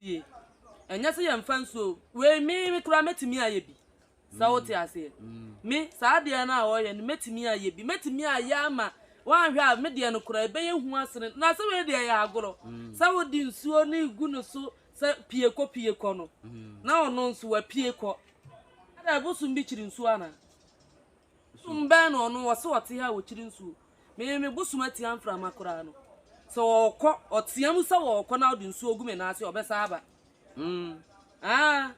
sie. Ɛnyɛ sɛ yɛmfa nsuo o, wei me me koraa mɛtumi ayɛ bi. Sɛ wote mm. aseɛ. Mm. Me saa adeɛ no a wɔyɛ no mɛtumi ayɛ bi. Mɛtumi ayɛ ama woanhwɛ a me deɛ no koraa ɛbɛyɛ hu asene. Na sɛ wei deɛ yɛ agorɔ. Mm. Sɛ wode nsuo no gu no so sɛ pie kɔ pie kɔ no. Na ɔno nso wapie kɔ. Ada ɛbosom bi kyiri nsuo anaa? Bosom bɛn na ɔno ɔse ɔte ha wɔ kyiri nsuo? Me me bosom atia mframa koraa no sɛ ɔkɔ ɔtea mu sɛ ɔkɔ na ɔde nsuo gu me nan ase ɔbɛsa aba mm ah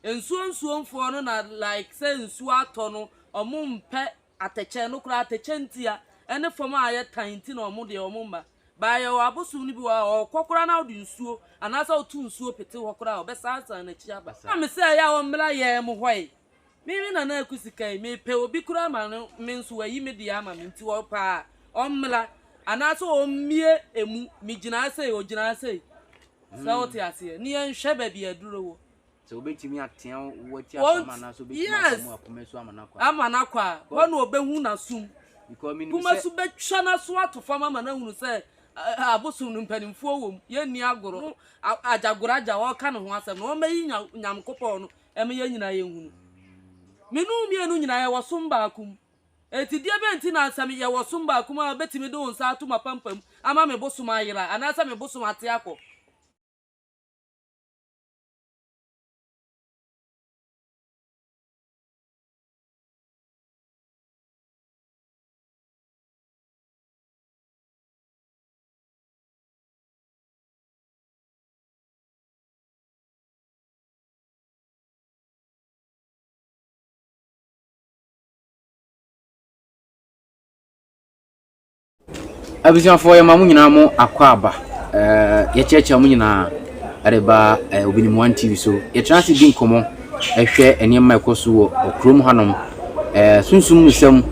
nsuo nsuo mfoɔ no na like sɛ nsuo atɔ no ɔmo mpɛ atɛkyɛ no koraa atɛkyɛ ntia ɛne fam a ayɛ tan nti na ɔmo deɛ ɔmo mma baayɛ wɔ abosom no bi wɔ a ɔkɔ koraa na ɔde nsuo anaasɛ ɔto nsuo pete hɔ koraa ɔbɛsa asan n'akyi aba na me sɛ ɛyɛ a ɔmmra yɛn mo hɔ yi Me me nana aku sika yi mepɛ obi koraa ma no me nso wayi me deɛ ama me nti ɔpɛ a ɔmmra anaasɛ ɔmmie emu megyinaa sei ɔgyinaa sei sɛ wote hmm. aseɛ ne yɛnhwɛ baabi aduro wɔ sɛ wobɛtumi atea wati asam anaasɛ wobɛtumi asa mu akoma su ama no akɔ ama no akɔ a hɔ na ɔbɛhu n'asom kuma so bɛtwa n'aso ato fam ama no ahunu sɛ abosom no mpanimfoɔ wɔ mu yɛnni agorɔ agyagorɔ agya wɔka ne ho asɛm na wɔmmɛyi nyamkopɔn no Ɛma yɛn nyinaa yɛn hunu. Me ne wo mmienu nyinaa yɛwɔ som baako mu. Enti deɛ bɛn nti na sɛ yɛwɔ som baako mu a wobɛtumi de wo nsa ato m'apampam ama me bosom ayera anaasɛ me bosom ate akɔ? abusuafoɔ yɛma mo nyinaa mo akɔ aba eh, yɛkyerɛkyerɛ mo nyinaa ɛde ba eh, obinim one tv so yɛtena ase di nkɔmmɔ ɛhwɛ eh, nneɛma ɛkɔ so wɔ ɔkurom hanom eh, sunsum mu sɛm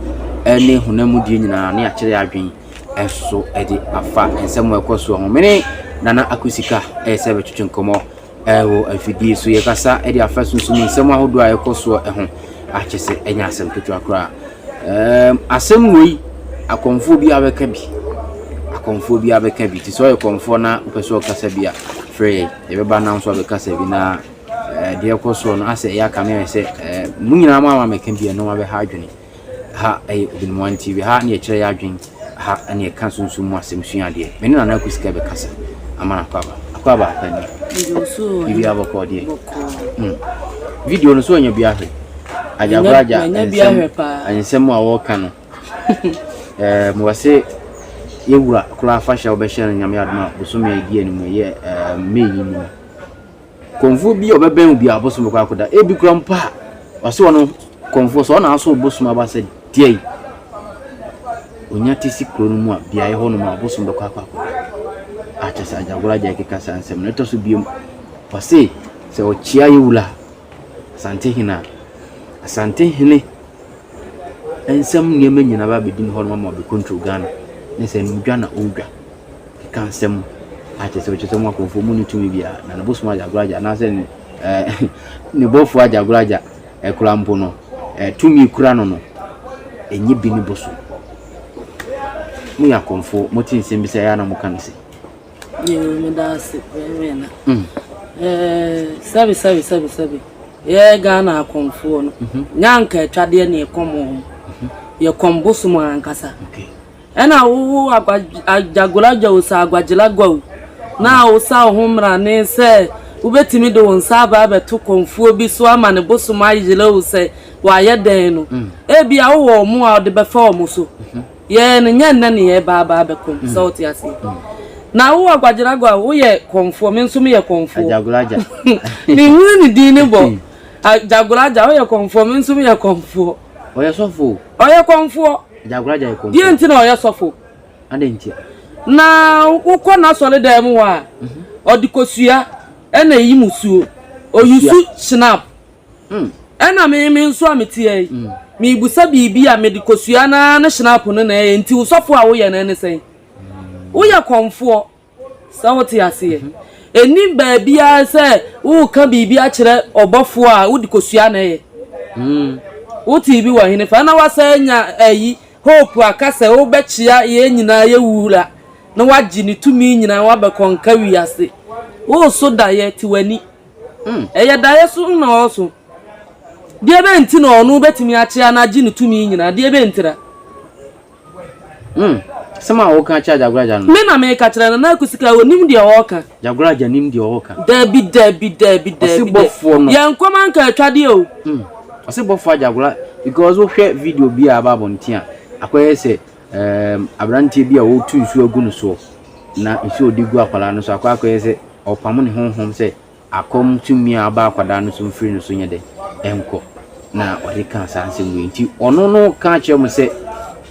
eh, ne honam mu die nyinaa ne akyerɛ adwen ɛso ɛde afa nsɛm a ɛkɔ so ho mene nana akosika ɛyɛ sɛ bɛtwetwe nkɔmmɔ Wɔ afidie so yɛkasa de afa sunsum mu nsɛm ahodoɔ a ɛkɔ soɔ ho a kyɛ sɛ ɛnyɛ asɛm ketewa koraa. Ɛɛm asɛm wei akɔmfoɔ bi abɛka bi akɔmfoɔ bi abɛka bi te sɛ ɔyɛ kɔmfoɔ na wopɛ sɛ ɔkasa bi a frɛ yɛn yɛbɛba nam so abɛkasa bi na ɛɛ deɛ ɛkɔ soɔ no asɛ ɛyɛ aka me ayɛ sɛ ɛɛ mo nyinaa mo ama mɛka bi a ɛno abɛha adwene. ha yɛ Ɔbɛniwa TV, ha ne yɛkyerɛ yɛ adwen, ha ne yɛka sunsum mu asɛm sua adeɛ. Me ne Nana Aku Sika bɛkasa ama no akɔ aba. Akɔ aba akɔ ani. Bibi abɔkɔ deɛ. Hmm. Video no so anya bi ahwɛ. Agyagora agya nsɛm a wɔka no. Eh, mo wase yɛwura koraa afahyɛ a wɔbɛhyɛ no nyame adoma bosome a ɛdi anim yɛ eh, May yi mu. Kɔmfoɔ bi a ɔbɛbɛn wo biara ɔbosom bɛkɔ akɔda. Ebi koraa mpo a w'asowa no kɔmfoɔ sɛ ɔna aso ɔbosom aba sɛ deɛn ɔnya te si kuro no mu a beaeɛ hɔ nom a ɔbosom bɛkɔ akɔ akɔda. Akyɛ sɛ agyagoro agya ɛkeka saa nsɛm no ɛtɔ so biom wɔse sɛ ɔkyea yɛ wula asante hene a asante hene nsɛm nneɛma nyinaa ba bɛdi ne hɔ nom ama ɔbɛkontrol Ghana ne sɛ no dwa na ɔdwa. Keka nsɛm a kyerɛ sɛ ɔkyerɛ sɛ mo akɔmfoɔ mu no tumi biara, na ne bosom agya agorɔ agya anaasɛ ne eh, ne bɔfoɔ agya agorɔ agya eh, kura mpo no eh, tumi kura no no ɛnyɛ bi ne bosom. Moyɛ akɔmfoɔ, mote nsɛm bi sɛ ɛyɛ na moka no se. Yɛwɔ mu da ase, yɛwɔ na. Mm. Eh, sɛbi sɛbi sɛbi sɛbi. Yɛ Ghana akɔmfoɔ no. Mm -hmm. Nyanka atwadeɛ ne ɛkɔm wɔn. Mm -hmm. Yɛ kɔm bosom ankasa. Okay. Ɛna wo wo Agwagyagoragya o sa Agwagyelagwa o na wo sa wo ho mmarane sɛ wobɛtumi de wo nsa aba abɛto kɔmfoɔ bi so ama ne bosom ayera o sɛ wayɛ dɛn no ebia wo wɔ wɔn a wode bɛfa wɔn so yɛɛ no nyɛ nnɛ ne yɛ ba aba abɛko no sɛ wote aseɛ na wo Agwagyelagwa o woyɛ kɔmfoɔ me nso meyɛ kɔmfoɔ Agyagoragya menhunu ne din no bɔ Agyagoragya woyɛ kɔmfoɔ me nso meyɛ kɔmfoɔ. Ɔyɛ sɔfo o. Ɔyɛ kɔmfoɔ. Agyankora gya yɛ kɔmfoɔ. Deɛ nti na ɔyɛ sɔfo. Adɛn ntia. Na wokɔ n'asɔre dan mu hɔ a, ɔde kosua ɛna ɛyi mu suo. Ɔyusu Schnapp. Ɛna me me nso a meteɛ yi, mebusa biribi a mede kosua no ara ne Schnapp no na ɛyɛ. Nti wo sɔfo a woyɛ no ɛne sɛn? Woyɛ kɔmfoɔ. Sɛ wote aseɛ? Ɛnnim baabiara sɛ woreka biribi akyerɛ ɔbɔfoɔ a wode kɔsua na ɛyɛ. Wotee bi wɔ henefa? Na woasan anya ayi, hope a ka sɛ wobɛkyea yɛn nyinaa yɛ Wura na woagye ne tumi nyinaa woabɛkɔnka wiase. Woreso daeɛ, te w'ani. Ɛyɛ daeɛ so na ɔreso. Deɛbɛn nti na ɔno wobɛtumi akyea na agye ne tumi nyinaa? Deɛbɛn ntira? Hmm. Sɛm a woka kyerɛ Jagoraja no. Me na meka kyerɛ no na akusika onim deɛ ɔɔka. Jagoraja nim deɛ ɔɔka. Dabi dabi dabi dabi. Ɔse bɔfoɔ no. Yɛn nkɔm anka atwadeɛ o. Hmm. Ɔse bɔfoɔ ajagora because wohwɛ video bi a aba abɔnten a akɔyɛ sɛ um, abranteɛ bi a ɔretu nsuo agu no soɔ na nsuo ɔde gu akwadaa no so akɔ akɔyɛ sɛ ɔpamo ne honhom sɛ Akɔm tumi a ɔba akwadaa no so no firi ne so nyɛ dɛ nkɔ, na ɔde kaa saa nsɛm wei. Nti ɔno no ka kyerɛ mo sɛ,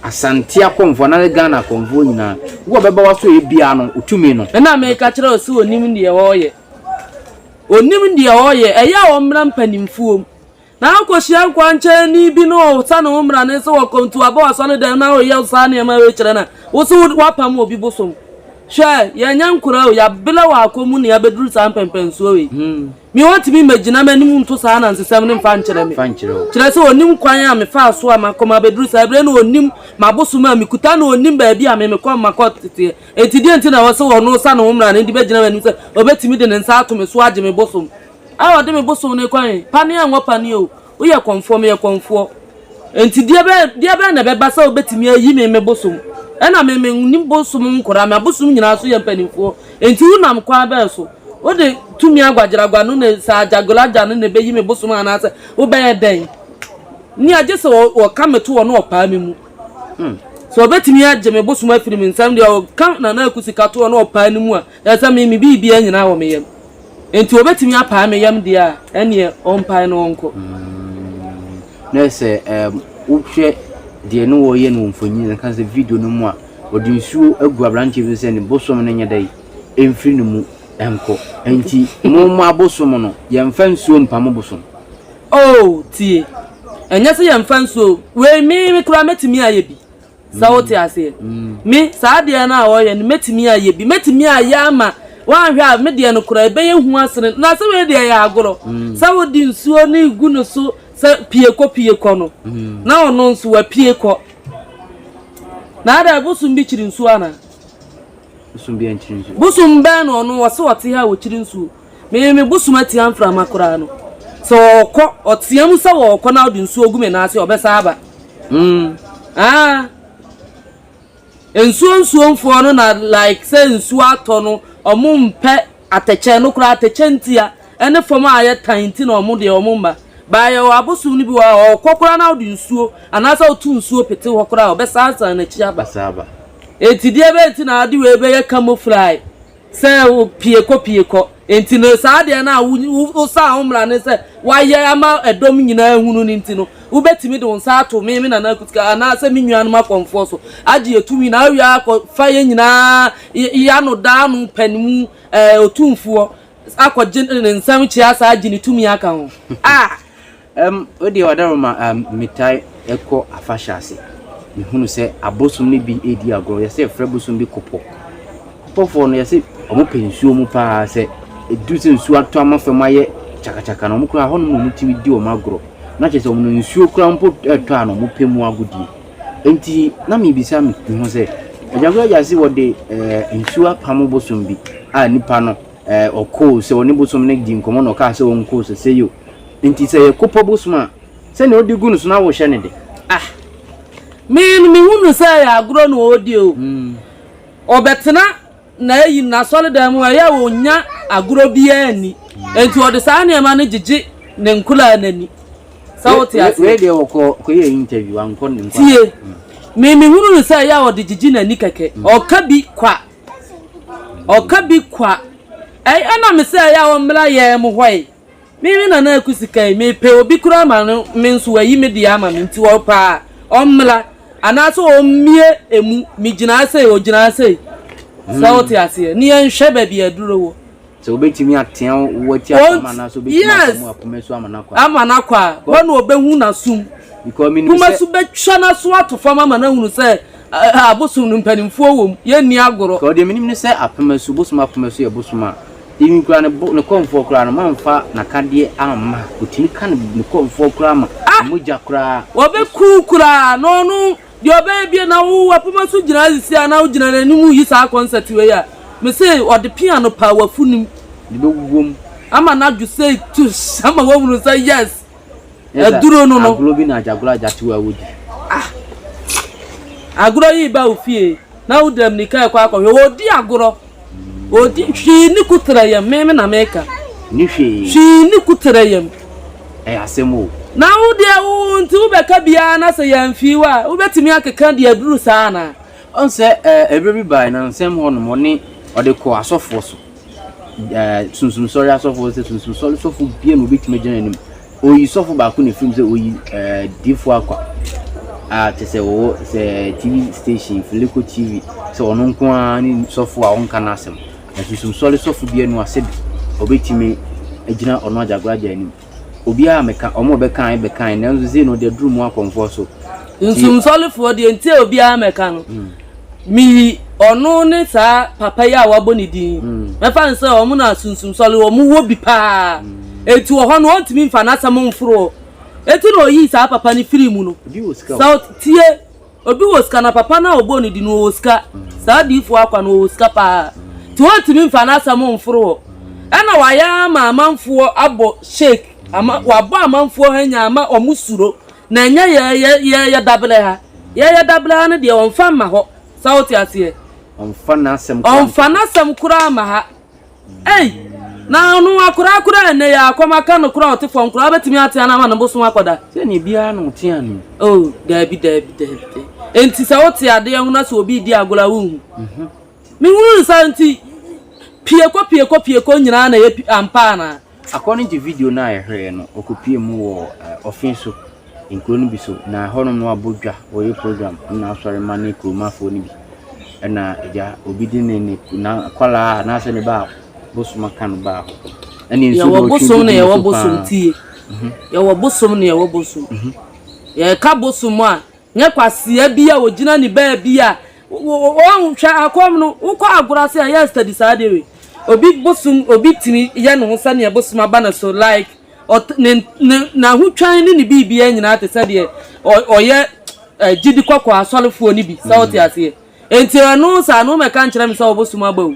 Asante akɔmfoɔ anaasɛ Ghana akɔmfoɔ nyinaa, wo a bɛba w'asoɛeɛ biara no, wo tumi no. Ɛna meka kyerɛ wo sɛ ɔnim deɛ ɔreyɛ. Ɔnim deɛ ɔreyɛ. Ɛyɛ a ɔmmra mpanimfoɔ mu Na wokohyia nkwankyɛɛni bi na ɔsane wo mmara no nso wɔ kwantu aba w'asɔredɛm na ɔreyɛ wo saa nneɛma wei kyerɛ na wo so woapam obi bosom. Hwɛ, yɛnyɛ nkora o, yɛabela wɔ akɔ mu na yɛabɛduru saa mpɛnpɛnsoɔ wei. Me wɔntumi mmɛgyina m'anim nto saa anansesɛm no mfa nkyerɛ me. Kyerɛ sɛ ɔnnim kwan a mefaa so a makɔ mabɛduru saa berɛ na ɔnnim m'abosom a mekuta na ɔnnim baabi a me mekɔ makɔteteɛ. Enti deɛn nti na ɛwɔ sɛ ɔno wosane wo mmara no de bɛgyina m'anim sɛ ɔbɛtumi de ne nsa ato me so agye me bosom? a ɔde me bosow no kwan pa ne anwɔ pa ni o, woyɛ kɔmfoɔ, meyɛ kɔmfoɔ, enti deɛ bɛn, deɛ bɛn na ɛbɛba sɛ wobɛtumi ayi me me bosom? Ɛna me, mennim bosom nkora, m'abosom nyinaa so yɛ mpanimfoɔ, enti wonam kwan bɛn so? Wode tumi aguagyeragua no na sɛ agyagolagya no na ɛbɛyi me bosom anaasɛ wobɛyɛ dɛn? Nea gye sɛ wɔka me toɔ na wɔpaa me mu. Sɛ wɔbɛtumi agye me bosom afiri me nsam deɛ, wɔka Nana Aku sika toɔ na wɔpaa no mu a, Na sɛ me me biribiara nyinaa wɔ me yam, enti obetumi apae me yam deɛ a, ɛnneɛ ɔmpae na ɔnkɔ. Na sɛ ɛɛm wohwɛ deɛ ne wɔyɛ no wɔ mfonyin no ka sɛ video no mu a, ɔde nsuo agu aberanteɛ bi sɛ ne bosom no nyɛ dɛ ɛmfiri ne mu nkɔ. Enti mo mo abosom no, yɛmfa nsuo mpa mo bosom. Oh, tie. Ɛnyɛ sɛ yɛmfa nsuo. Wei me me koraa mɛtumi ayɛ bi. Sɛ wote aseɛ? Me, saa adeɛ no a wɔyɛ no, mɛtumi ayɛ bi. Mɛtumi ayɛ ama woanhwɛ a me deɛ no koraa ɛbɛyɛ hu asene na sɛ wei deɛ ɛyɛ agorɔ. Sɛ wode nsuo no regu no so sɛ pie kɔ pie kɔ no, na ɔno nso wapie kɔ. Na ada bosom bi kyiri nsuo anaa? Bosom bi ankyiri nsuo. Bosom bɛn na ɔno wɔse ɔte ha a ɔkyiri nsuo? Me me bosom atia mframa koraa no sɛ ɔɔkɔ ɔtea mu sɛ ɔɔkɔ na ɔde nsuo gu me nan ase ɔbɛsa aba mm aa nsuo nsuo mfoɔ no na like sɛ nsuo atɔ no ɔmo mpɛ atɛkyɛ no koraa atɛkyɛ ntia ɛne fam a ayɛ tan nti na ɔmo deɛ ɔmo mma baayɛ wɔ abosom no bi wɔ a ɔɔkɔ koraa na ɔde nsuo anaasɛ ɔto nsuo pete hɔ koraa ɔbɛsa asan n'akyi aba eti deɛ bɛyɛ ti na ade wei bɛyɛ camouflage. Sɛ pie kɔ pie kɔ. Enti no, saa adeɛ no a wosaa wo mmara no sɛ woayɛ ama ɛdɔm nyinaa ahunu no nti no, wobɛtumi de wo nsa ato me, me nana Akutika, anaasɛ me nuanom akɔmfoɔ so, agye yɛn tumi, na awie akɔfa yɛn nyinaa, yɛn ano da ano pɛn mu, ɛɛ, Otumfoɔ akɔgye ne nsam kyea saa agye ne tumi aka ho. A! Ɛm, o deɛ wadaroma ɛm, metaa ɛkɔ afahyɛ ase, mehunu sɛ abosom no bi redi agorɔ, yɛsɛ yɛfrɛ bosom bi kopɔ. Kopɔfoɔ no yɛsɛ wɔn pɛ nsuo mu paa, sɛ ɛduru sɛ nsuo atɔ ama fam ayɛ kyakakyaka no, wɔn koraa hɔ nom na wɔn tumi di wɔn agorɔ, na kyerɛ sɛ wɔn no nsuo koraa mpo ɛretɔ a na wɔn pɛ mu agodie. Enti na mebisa me me ho sɛ, Agyankwa agya se wɔde ɛɛ nsuo apamo bosom bi a nipa no ɛɛ ɔkoo sɛ wɔne bosom no di nkɔmmɔ na ɔkaa sɛ wɔnkoo sɛ sɛ yo, Nti sɛ yɛ kopɔ bosom a sɛnea ɔde gu no so na wohyɛ no de. Ah me no me hu no sɛ ɛyɛ agorɔ na ɔredi o ɔbɛtena na ayi n'asɔredan mu ɛyɛ a ɔnya agorɔ biara nni nti ɔde saa nneɛma no gyegye ne nkoraa no ani sɛ wote aseɛ wei deɛ ɔkɔ kɔyɛ interview ankɔ ne nkɔ tie me me hunu no sɛ ɛyɛ a ɔde gyegye n'ani kɛkɛ ɔka bi kwa ɔka bi kwa ɛyɛ na me sɛ ɛyɛ a ɔmmra yɛn mu hɔ yi Me me nana aku sika yi mepɛ obi koraa ma no me nso wayi me deɛ ama me nti ɔpɛ a ɔmmra anaasɛ ɔmmie emu megyinaa sei ɔgyinaa sei sɛ wote hmm. aseɛ ne yɛnhwɛ baabi aduro wɔ sɛ wobɛtumi atea wo ati apam anaasɛ wobɛtumi apam akoma su ama no akɔ ama no akɔ a hɔ na ɔbɛhu n'asom kuma so bɛtwa n'aso ato fam ama no ahunu sɛ abosom no mpanimfoɔ wɔ mu yɛnni agorɔ deɛ menim ne sɛ apem asu bosom apem asu yɛ bosom a Even koraa ne bo ne kɔmfoɔ koraa no mamfa nakadeɛ amma ɔtumi ka ne ne kɔmfoɔ koraa ma ah! mogya koraa ɔbɛku wo koraa na ɔno deɛ ɔbɛyɛ bie na wo wapoma so gyina asisi a na wogyina n'anim yi saa concert wei a mese ɔde pia no paa wafunim de bɛwuwom ama n'adwo sei tush ama wahunu sɛ yes Aduro no no. Agorɔ bi na agyagorɔ agyatew a wodi. Ah! Agorɔ yi ba wo fie na wo dam nika ɛkɔ akɔhwɛ wɔdi agorɔ. Wɔdi hwii ne ku tra yam me me na meka. Ni hwii. Hwii ne ku tra yam. Ɛyɛ asɛm o. Na wo deɛ wo nti wo bɛka biara na sɛ yɛamfii wo a wobɛtumi akeka deɛ aduru saa anaa? Ɔn sɛ ɛɛ ɛberɛ bi bae na nsɛm hɔ nom ɔne ɔde kɔ asɔfoɔ so. ɛɛ Sunsum Sɔre asɔfo sɛ Sunsum Sɔre sɔfo bia na obetumi agyina n'anim. Oyi sɔfo baako na efirim sɛ oyi ɛɛ eh, Difo Akwa a kyɛ sɛ wɔwɔ sɛ eh, TV station Fileko TV sɛ ɔno nko ara ne sɔfo a ɔnka n'asɛm. Na Sunsum Sɔre sɔfo bia no asɛ bi obetumi agyina ɔno agyagoragya anim. obiara a meka, wɔn a wɔbɛkae bɛkae, nanso sei no, ɔde aduru mu akɔ mfɔso. Nsumsɔrefoɔ deɛ nti a obiara mɛka no, mm. meyi ɔno ne saa papa yi a wabɔ ne din mm. mɛfa no sɛ wɔn na sunsumsɔre wɔn wɔ bi paa mm. eti wɔ hɔ no wɔntumi nfa n'asɛm mforo eti na oyi saa papa no firi mu no sɛ tie. Obi wɔ sika na papa no a ɔbɔɔ no din no ɔwɔ sika. Saa odiyifoɔ Akwa no ɔwɔ sika pa ara nti wɔntumi mfa n'asɛm mforo hɔ. Ɛna wayɛ ara ama amanfoɔ abɔ shake ama wabɔ amanfoɔ hanya ama wɔn suro na ɛnyɛ yɛn yɛ yɛ yɛ dabrɛ ha yɛ yɛ dabrɛ ha no deɛ wɔmfa mma hɔ sa wote aseɛ wɔmfa n'asɛm koraa mma ha. Ei! Na ɔno akoraa koraa a ɛnnɛ yi ara kɔm aka no koraa a ɔte fam koraa wobɛtumi atea no ama ne bosom akɔ da? Sɛ nea biara na ɔte anoo. Oh, daabi, daabi, daabi, daabi. Enti sɛ wote adeɛ ho na sɛ obi redi agorɔ a wonhu? Mehunu no saa nti, pie kɔ, pie kɔ, pie kɔ nyinaa na ɛyɛ pi, ampa anaa? According to video no a yɛhwɛɛ no, ɔkɔpuee mu wɔ Ɔfin so, nkuro no bi so, na ɛhɔnom no wabɔ dwa, ɔreyɛ program na asɔre ma ne kuromafoɔ no bi. Ɛna agya, obi de ne ne n'akwadaa anaasɛ ne ba bosom aka no baa hɔ. Ɛne nso yɛwɔ bosom na yɛwɔ bosom tie. Mhm. Yɛwɔ bosom na yɛwɔ bosom. Mhm. Yɛka bosom a Nyɛ kwasea bi a ogyina ne baabi a ɔn hwɛ akɔm no wokɔ agorɔ ase a yɛ study saa adeɛ wei obi bosom obi tumi yɛ ne ho sɛdeɛ bosom aba ne so like ɔt ne ne n'ahotwan ne ne biribiara nyinaa te sɛ deɛ ɔ ɔyɛ eh, gyidi kɔkɔɔ asɔrefoɔ no bi sɛ ɔte aseɛ enti ɛno saa no mɛka nkyerɛ me sɛ ɔbosom aba o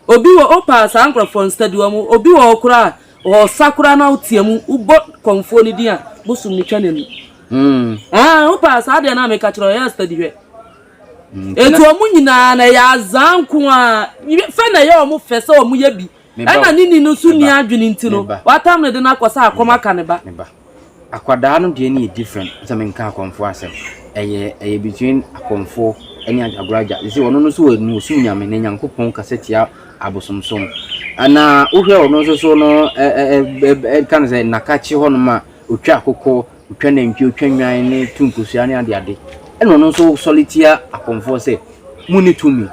obi wɔ opaa saa nkorɔfoɔ no study wɔn obi wɔ ɔkora a Ɔsa koraa na wotea mu, wobɔ kɔmfoɔ no din a, bosom no twa n'ani. Ɛɛ, wopɛ a, saa deɛ no a meka kyerɛ wo, yɛ study hwɛ. Enti wɔn nyinaa na ɛyɛ azaa nko a, fɛ na ɛyɛ wɔn fɛ sɛ wɔyɛ bi. Ɛna ne ni no nso nni adwene nti no, watam no de no akɔ sɛ akɔm aka ne ba. Akwadaa no deɛ no yɛ different sɛ menka akɔmfoɔ asɛm. Ɛyɛ ɛyɛ between akɔmfoɔ ɛne agoragya. Te sɛ ɔno no so ɔno ɔsum nyame na Nyankopɔn kasa tia abosomsom. Ɛna wohwɛ ɔno nso so no ɛ ɛ ɛ ɛ ɛka no sɛ nnakakye hɔnom a ɔtwa akokɔ, ɔtwa nantwie, ɔtwa nnwan ne tu nkosua ne ade ade. Ɛna ɔno nso sɔre tia akɔmfoɔ sɛ monni tumi.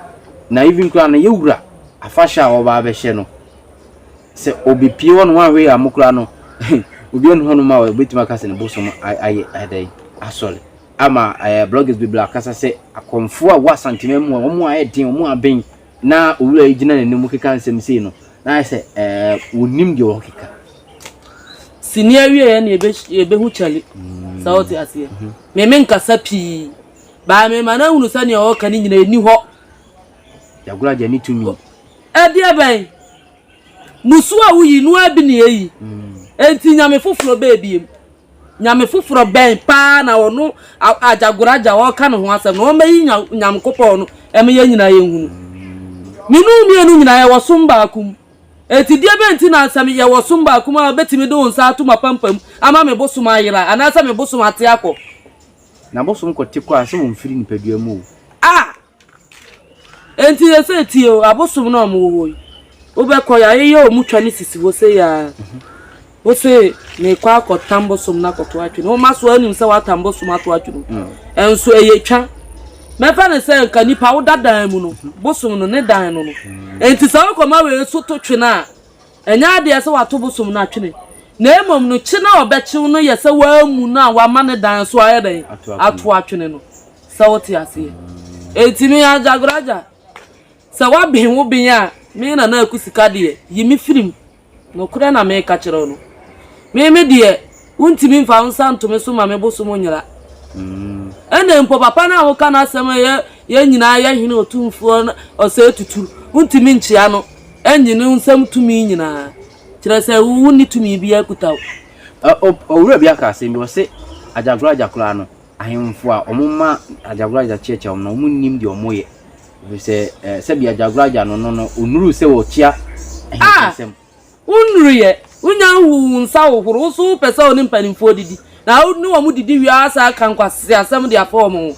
Na even koraa no yɛ wura afahyɛ a ɔba abɛhyɛ no, Sɛ obepue hɔ no wanhwɛ yie ammɔ koraa no, obi ɔnni hɔnom a obetumi aka sɛ ne bo som ayɛ dɛn? Asɔre. Ama ɛɛ bloggers bebree akasa sɛ akɔmfoɔ a ɛwɔ Asanteman mu a wɔn mu ayɛ den, wɔn mu aben na owura yi gyina n'anim keka nsɛm sei no, na ayɛ sɛ ɛɛ wɔnnim deɛ wɔkeka. Sini awieɛ na yɛbɛ yɛbɛhu kyɛle. Mm. Sɛ wote aseɛ. Mm-hmm. Me me nkasa pii. Baa me ma no ahunu sɛ nea ɔreka no nyina ɛni hɔ. Yɛagora gya ne tumi. Ɛdeɛ bɛn? Mmusu a woyi no ara bi ne eyi. Enti nyame foforɔ bɛn biom? Nyame foforɔ bɛn paa na ɔno Agyagoraagya a ɔreka ne ho asɛm no, ɔmmɛyi Nyankopɔn no mma yɛn nyinaa yɛnhunu? Me ne wo mmienu nyinaa yɛwɔ som baako mu. Enti deɛ bɛn nti na sɛ yɛwɔ som baako mu a wobɛtumi de wo nsa ato m'apampam ama me bosom ayera anaasɛ me bosom ate akɔ? Na bosom kɔte kɔ a, sɛ ɔmfiri nipadua mu o. Ah! Enti seesei tie o, abosom no a wɔwɔ hɔ yi, wobɛkɔ, yɛayeyɛ wɔn twa no sisi hɔ sei ara. Wose merekɔ akɔtam bosom no akɔto atwe no, woma so anim sɛ woatam bosom ato atwe no. Ɛnso ɛyɛ twa. Mɛfa no sɛ nka nipa woda dan mu no, bosom no ne dan no no. Enti sɛ wokɔma wei nso to twe no a, Ɛnyɛ adeɛ sɛ wato bosom no atwene, na mmom no kye no a ɔbɛkye wo no yɛ sɛ woamu no a wama ne dan so ayɛ dɛn? Ato atwene no. Sɛ wote aseɛ? Enti me Agyagoragya, sɛ woaben wo ben a, me Nana Aku Sika deɛ, yi me firi mu. Nokorɛ na meka kyerɛ wo no. Me me deɛ. Wontumi mfa wo nsa nto me so ma me bosom nyera. Ɛnna mpo papa no a woka n'asɛm a yɛn nyinaa yɛ hene otumfoɔ ɔsɛe tuturu, wontumi nkyea no nnye ne nsam tumi nyinaa, kyerɛ sɛ wonni tumi biara kuta wo. Owura bi aka asɛm bi, ɔse, Agyakoragya koraa no, ahemfo a wɔma agyakoragya kyeakyea wɔn no, wɔnnim deɛ wɔyɛ, ɛfiri sɛ sɛdeɛ agyakoragya no no no, ɔnnuruu sɛ ɔkyea ahemfo nsam. Wo nnuruyɛ, wo nya nhuu wo nsa hohoro, wo nso wo pɛ sɛ wo ne mpaninfoɔ didi, na wo ne wɔn didi wie ara saa ka nkwaseasɛm de apɛ wɔn ho.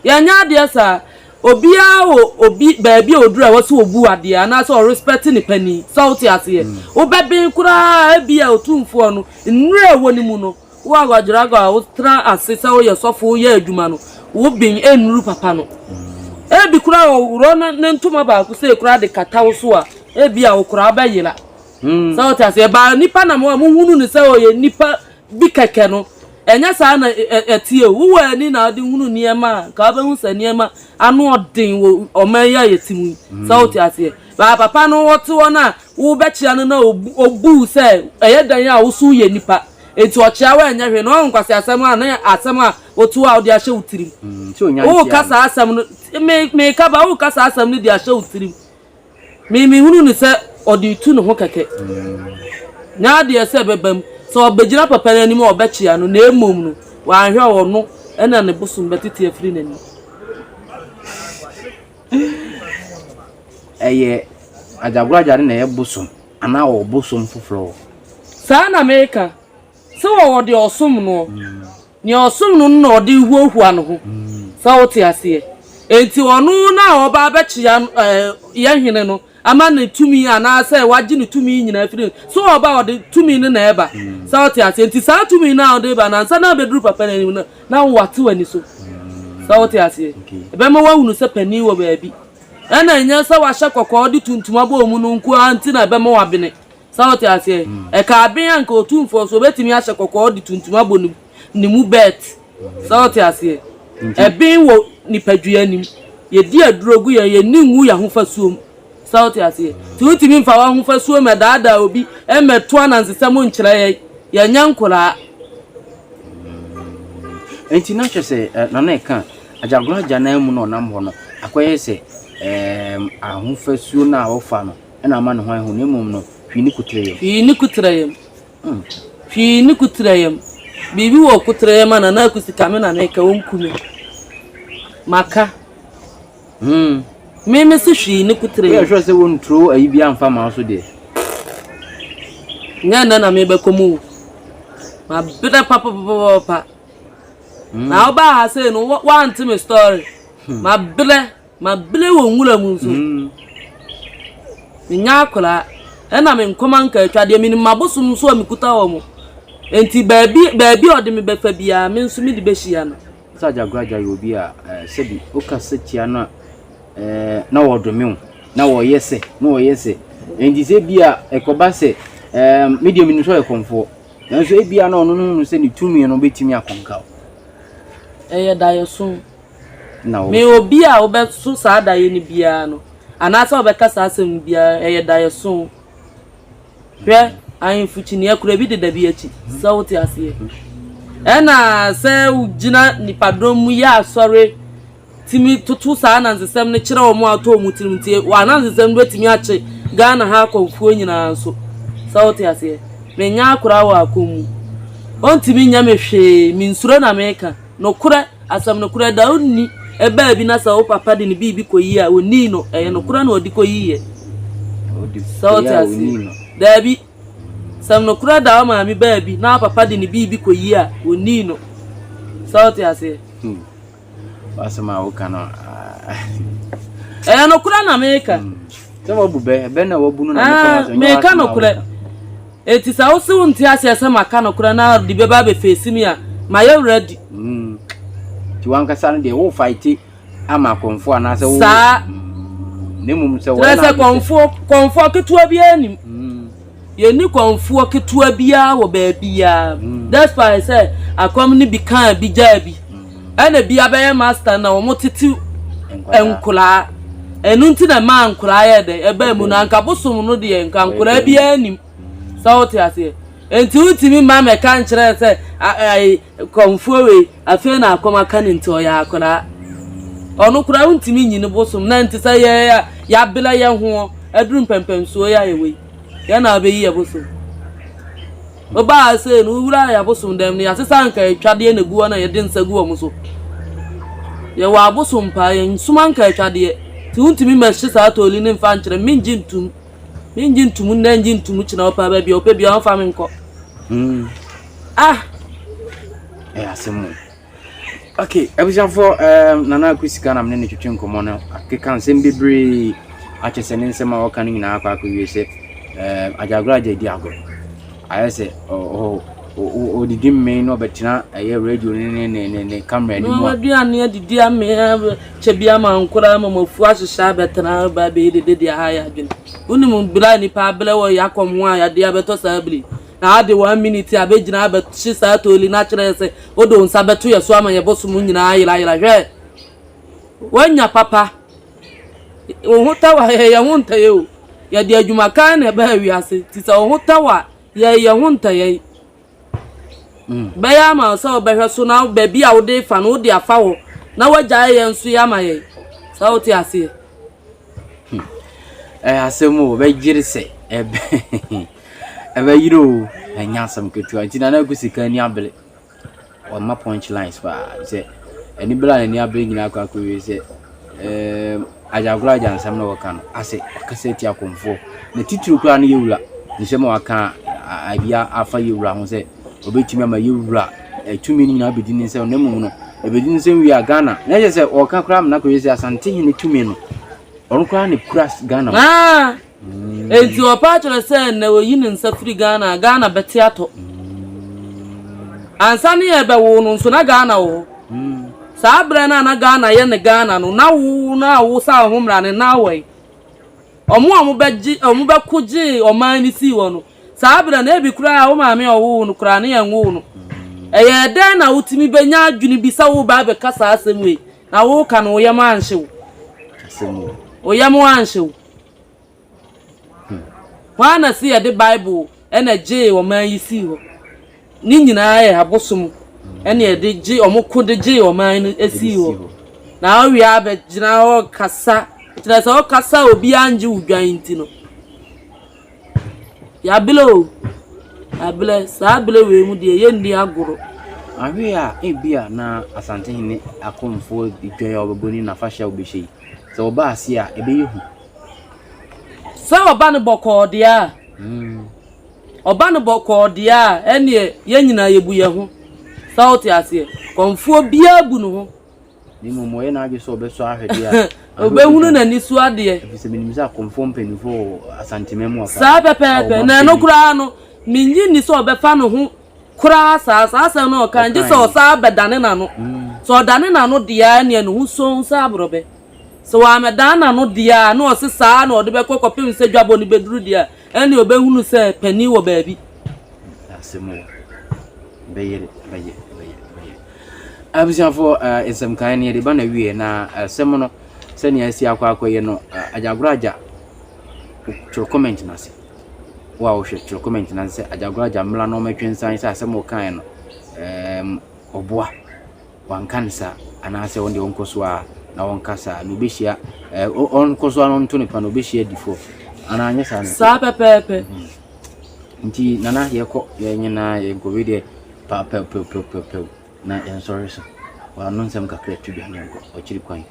Yɛ nyɛ adeɛ saa. Obiara wɔ obi baabi a ɔduru a ɛwɔ sɛ ɔbu adeɛ anaa sɛ ɔrespɛte ne panin. Sɛ wo te aseɛ? Wo bɛben koraa a ɛbia ɔtumfoɔ no, nnuruyɛ a ɛwɔ ne mu no, Wo a Ouadraogo a wotraa ase sɛ woyɛ sɔfo reyɛ adwuma no, wo ben nnuru papa no. Ebi koraa ɔworɔ ne ntoma baako sei koraa de kata wo so a, ebia wo koraa bɛyera. Sɛ wote ase, ɛbaa nipa nam hɔ a mohunu no sɛ ɔyɛ nipa bi kɛkɛ no, ɛnyɛ saa na ɛteɛ o. Wowɔ ani na wode hunu nneɛma a, nka wobɛhu sɛ nneɛma ano ɔden wɔ ɔman yi a yɛte mu yi. Sɛ wote aseɛ. Baa papa no wɔte hɔ no a, Wobɛkyea no na obu wo sɛ ɛyɛ dɛn a wo so woyɛ nipa, enti ɔkyea wo a ɛnyɛ hwee na wahu nkwaseasɛm a ne asɛm a otu a wode ahyɛ wo tirim. Woreka saa asɛm no, me, meka ba, woreka saa asɛm no de ahyɛ wo tirim. Me, mehunu no sɛ ɔde retu ne ho kɛkɛ. Nyɛ adeɛ sɛ ɛbɛba mu. Sɛ ɔbɛgyina papa no anim a, ɔbɛkyea no, na mmom no, wanhwɛ a, ɔno na ne bosom bɛtete afiri n'anim. Ɛyɛ agyagoragyade na ɛyɛ bosom anaa ɔwɔ bosom foforɔ wɔ. Saa ara na mereka, sɛ ɔwɔ deɛ ɔsom noɔ, nea ɔsom no no na ɔde rehuahua ne ho, sɛ wote aseɛ? Enti ɔno na ɔba abɛkyea yɛn hene no Ama no tumi anaasɛ wagye ne tumi nyinaa afiri no. So ɔba a, ɔde tumi no na ɛba. Sɛ wote aseɛ? Nti saa tumi no a wode reba no, ansa na abɛduru papa no anim no, na wo wate w'ani so. Sɛ wote aseɛ? Ɛbɛma woahunu sɛ panin wɔ baabi. Ɛna ɛnyɛ sɛ wahyɛ kɔkɔɔ de tuntum abɔ wo mu no nko ara nti na ɛbɛma woabene. Sɛ wote aseɛ? Ɛka abɛn a nka otumfoɔ nso obɛtumi ahyɛ kɔkɔɔ de tuntum abɔ ne ne mu bɛɛt. Sɛ wote aseɛ? Ɛben wɔ nipadua anim. Yɛdi aduro gu yɛn, yɛnni ngu yɛn ahofasuom. Sɛ wote aseɛ? Nti wontumi mfa w'ahofasuo mmɛdaadaa obi, mmɛto anansesɛm nkyerɛ yɛn. Yɛnyɛ nkoraa. Nti na kyerɛ sɛ Nana ɛka Agyagoro agya no ara mu na ɔnam hɔ no akɔyɛ sɛ ɛɛm ahofasuo no a ɔfa no. Ɛna ama ne ho ayɛ hu, na mmom no, hwii ne kutrɛyam. Hwii ne kutrɛyam. Mm. Hwii ne kutrɛyam. Biribi wɔ kutrɛyam a Nana Akusi ka me na meka ɔnku me. Maka. Mm. Me me se hwii ne kutrɛyam. Woyɛ hwɛ sɛ wɔnturo ayi bi amfa ma so deɛ. Nyɛ nnɛ na mebɛkɔ mu o. Mabrɛ papapapapa. Mm. Na wobaa ha sei no, woante me story. Hmm. Mabrɛ. Mabere wɔ nwura mu nso. Menyɛ akwadaa, ɛnna me nkɔma nkaatwa deɛ, menim m'abosom nso a mekuta wɔn. Enti baabi baabi a ɔde me bɛfa biara, me nso mede bɛhyia no. Sɛ Agyaguradza yɛ obi a, sɛbi wokasa tia no a, na wɔdome wo, na wɔyɛ sɛ, na wɔyɛ sɛ. Enti sɛ bi a ɛkɔba sɛ, me deɛ menim sɛ ɔyɛ kɔmfoɔ, nanso ebi a na ɔno no hu no sɛ ne tumi no bɛtumi akɔnka wo. Ɛyɛ daeɛso. na wo. Me obi a wobɛso saa daeɛ no biara no, anaasɛ wobɛka saa asɛm no biara, ɛyɛ daeɛso. Hwɛ, ahemfo kyiniiɛ kora bi deda bi akyi, sɛ wote aseɛ. Ɛna sɛ wogyina nipadɔm mu yɛ asɔre tumi toto saa anansesɛm no kyerɛ wɔn a ɔtɔ wɔn tirim nti wɔn anansesɛm no bɛtumi akye Ghana ha akɔmfoɔ nyinaa nso sɛ wote aseɛ menyɛ akora wɔ akɔm mu ɔntumi nyɛ me hwee mensuro na meka Nokorɛ, asɛm nokorɛ, da ɔnni, ɛbaa bi na sɛ wo papa de ne biribi kɔyi a, ɔnnii no, ɛyɛ nokorɛ na ɔde kɔyiiɛ. Sɛ wote aseɛ? Daabi. Sɛm nokorɛ da wo maame baa bi na wo papa de ne biribi kɔyi a, ɔnnii no. Sɛ wote aseɛ? Hmm. W'asɛm a woka no ɛyɛ nokorɛ na meka. Hmm. Sɛ wabu bɛ, bɛ na wabu no na meka nokorɛ. Enti sɛ wo se wonte aseɛ sɛ maka nokorɛ na ɔde bɛba abɛfeesi me a, mayɛ wura adi. Nti w'ankasa no deɛ wofaete ama kɔmfoɔ anaasɛ wo. Saa. Na mmom sɛ wɔyɛ no adwene sɛ. Kɔmfoɔ, kɔmfoɔ ketewa biara nnim. Yɛnni kɔmfoɔ ketewa biara wɔ baabiara, despite sɛ akɔm no bi kaa bi gyaa bi. Ɛna bia bɛyɛ master na wɔn tete nkwadaa ɛnu nti na ɛmaa nkwadaa yɛ dɛ ɛbaa mu no anka bosom no deɛ nka nkwadaa biara nim sɛ wote aseɛ nti wotumi ma mɛka nkyerɛ sɛ ayi kɔnfoɔ wei afei na akɔm aka ne nti ɔyɛ akwadaa ɔno koraa wontumi nyi ne bosom na nti sɛ yɛ yɛabela yɛ ho aduru mpɛmpɛnsoɔ yɛ ayɛ wei yɛ na abɛyi yɛ bosom Ɔbaa sei no, wowurae abosom dɛm no, yɛasesa nkaatwadeɛ na ɛgu hɔ na yɛde nsa gu wɔn so. Yɛwɔ abosom paa, yɛnsom ankaatwadeɛ. Nti wontumi mmɛhye saa tooli no mfa nkyerɛ me, mengye ntom. Mengye ntom nnɛ, ngye ntom kyena, ɔpɛ baabi a ɔpɛ biara ɔmfa me nkɔ. Ah! Ɛyɛ asɛm o. Okay, abusuafoɔ ɛɛm um, Nana Akwi Sika na mene ne twetwe nkɔmmɔ no akeka nsɛm bebree akyɛ sɛ ne nsɛm a wɔka no nyinaa akɔ akɔwie sɛ ɛɛm um, agyagora agya di agorɔ ayɛ sɛ ɔhɔ ɔdidi mmee na ɔbɛtena ɛyɛ radio ne ne ne ne ne camera no mu a. aduane adidi amee kyɛ bi ama nkora ama mafu ahyehyɛ abɛtena ba bɛyɛ dede de aha yɛ adwene wonim bere a nnipa abrɛ wɔ yɛakɔm ho a yɛde abɛtɔ saa bere Na ade one minute a bɛgyina abɛhye saa tooli no akyerɛ yɛn sɛ wode wo nsa bɛto yɛn so ama yɛn bosom nyinaa ayerayera. Hwɛ! Woanya papa. Wo ho tɔ wo a, yɛyɛ yɛn ho ntɛyɛ o. Yɛde adwuma kann na ɛbaa wiase, nti sɛ wo ho tɔ wo a, yɛyɛ yɛn ho ntɛyɛ. Mm. Bɛyɛ ama wo sɛ wobɛhwɛ so na baabi a wode fa no wode afa hɔ na woagyae yɛn nso yɛ ama yɛn. Saa wote aseɛ. Hmm. Ɛyɛ asɛm o, bɛgyere sɛ ɛbɛ ɛbɛyere o, ɛnyɛ asɛm ketewa. Nti na na ɛgu sika ani abere. Ɔma punch lines paa sɛ ɛni bere a n'ani abere nyinaa akɔ akɔwie sɛ ɛɛm agyagoro agya nsɛm na wɔka no asɛ ɔkasa ti akɔmfoɔ. Na titiri koraa no yɛ wura nsɛm a wɔaka a ebi afa yɛ wura ho sɛ. ɔbɛtumi ama yɛwura tumi no nyinaa bɛdi ne nsɛm na mmom no ɛbɛdi ne nsɛm wie a ghana na ɛyɛ sɛ ɔka koraa mena kɔyɛ sɛ asante hene tumi no ɔno koraa ne kura ghana ah! mm. enti ɔpa akyerɛ sɛ na ɔyi ne nsa firi ghana a ghana bɛte atɔ mm. ansa ne yɛbɛwo no nso na ghana wɔ hɔ mm. saa berɛ no a na ghana yɛ ne ghana no na wo na wo sa ho mmara ne na awɔe ɔmo a ɔmo bɛgye ɔmo bɛko gyee ɔman no sii wɔ no Saa bere no, na ebi koraa wo maame a ɔwoo wo no koraa, ne yɛnwoo no. Ɛyɛɛ dɛn na wutumi benya adwene bi sɛ woreba abɛka saa asɛm wei, na woreka no, wo yam anhye wo? Asɛm o. Wo yam anhye wo. Hmm. Hwan na si yɛde Bible na gyee ɔman yi sii hɔ? Ne nyinaa yɛ abosom ɛne ɛde gye wɔn ko de gye ɔman no esi hɔ na ɔwia abɛgyina hɔ kasa kyerɛ sɛ ɔkasa obi angye wo dwan nti no Yɛabrɛ o, yɛabrɛ. Saa berɛ wei mu deɛ yɛnni agorɔ. Anhwɛ a ebia na Asantehene Akomfoɔ dwa a wɔbɛbɔ ne n'afahyɛ a wɔbɛhyɛ yi, sɛ wɔba ase a, ɛbɛyɛ hu. Sɛ wɔba no bɔkɔɔ deɛ a, wɔba no bɔkɔɔ deɛ a, ɛnneɛ yɛn nyinaa yɛbu yɛn ho. Sɛ wote aseɛ? Kɔmfoɔ biara bu ne ho. na mmom ɔyɛ n'adwene sɛ ɔbɛsɔ ahwɛ deɛ a ɔbɛhunu n'ani so adeɛ ɛfiri sɛ menim sɛ akɔmfoɔ mpanimfoɔ wɔ asantema mu afa saa pɛpɛɛpɛ na ɛno koraa no menye nni sɛ ɔbɛfa ne ho koraa saa saa asɛm no ɔka ngye sɛ ɔsaa bɛdane n'ano sɛ ɔdane n'ano deɛ neɛ ne ho sɔn sɛ aborɔbɛ sɛ wɔamɛdan n'ano deɛ a na ɔse saa na ɔde bɛkɔ kɔpem sɛ dwabɔ no bɛduru deɛ a ɛne ɔbɛhunu sɛ panin wɔ baabi asɛm wɔ bɛyere bɛyɛ bɛyɛ bɛyɛ Abusuafo, nsɛm nkae no yɛde ba na wie, na asɛm no sɛnea asi akɔ akɔyɛ no, agyagoraagya twerɛ comment no ase. Wo a wohwɛ twerɛ comment no ase sɛ agyagoraagya mmla na ɔmɛtwe nsan sɛ asɛm ɔkaeɛ no ɔboa wanka no saa anaasɛ ɔno deɛ ɔnkɔ so a na ɔnka saa na ɔbɛhyia ɔnkɔ so a ɔnto ne pa na ɔbɛhyia difoɔ anaa anyɛ saa no saa pɛpɛɛpɛ Nti Nana yɛkɔ, yɛn nyinaa yɛguare deɛ pɛɛpɛɛpɛɛpɛɛpɛɛpɛɛw na yɛnsɔre nso. Wano nsɛm kakra tu dwane nkɔ akyiri kwan.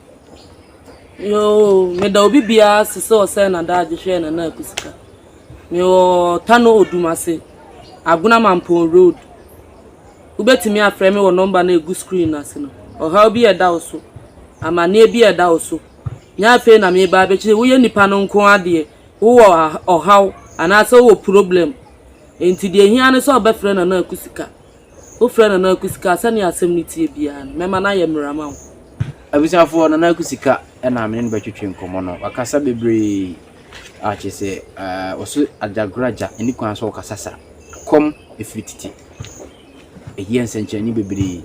Yoo, meda obi biara ase sɛ ɔsɛe n'adagye hwɛɛ Nana Aku sika. Mewɔ Tano Odumase, Agona Mampɔn Road. Wobɛtumi afrɛ me wɔ nɔmba no a ɛgu screen no ase no. Ɔhaw bi a ɛda wo so, amanneɛ bi a ɛda wo so, nyɛ afei na mereba abɛkyerɛ, woyɛ nipa no nko ara deɛ, Wowɔ ɔhaw anaasɛ wowɔ problem, enti deɛ ɛhia ne sɛ wobɛfrɛ Nana Aku Sika. Wofrɛ Nana Aku Sika a, sɛdeɛ asɛm no teɛ biara no, mɛma no ayɛ mmara ama wo. Abusuafoɔ, Nana Aku Sika na me ne no bɛtwetwe nkɔmmɔ no. Wakasa bebree a kyerɛ sɛ ɔso adagoragya nni kwan sɛ ɔkasa saa. Ɛkɔm firi tete. Ɛyɛ nsɛnkyerɛnne bebree.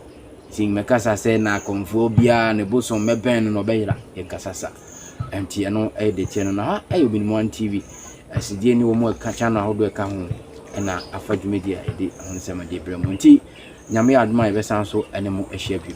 Enti mɛkasa sɛ na akɔmfoɔ biara ne bosom mɛbɛn no na ɔbɛyera yɛn kasa sa. Enti ɛno ɛyɛ deteɛ no. Na ha ɛyɛ Obinim One TV. Ɛsidie ne wɔn ɛka channel ahodoɔ ɛka ho ɛna afa dwumadie a ɛde ho nsɛm ɛde brɛ mo. Enti Nyame yɛ adom a yɛbɛsan so ɛne mo ahyia bio.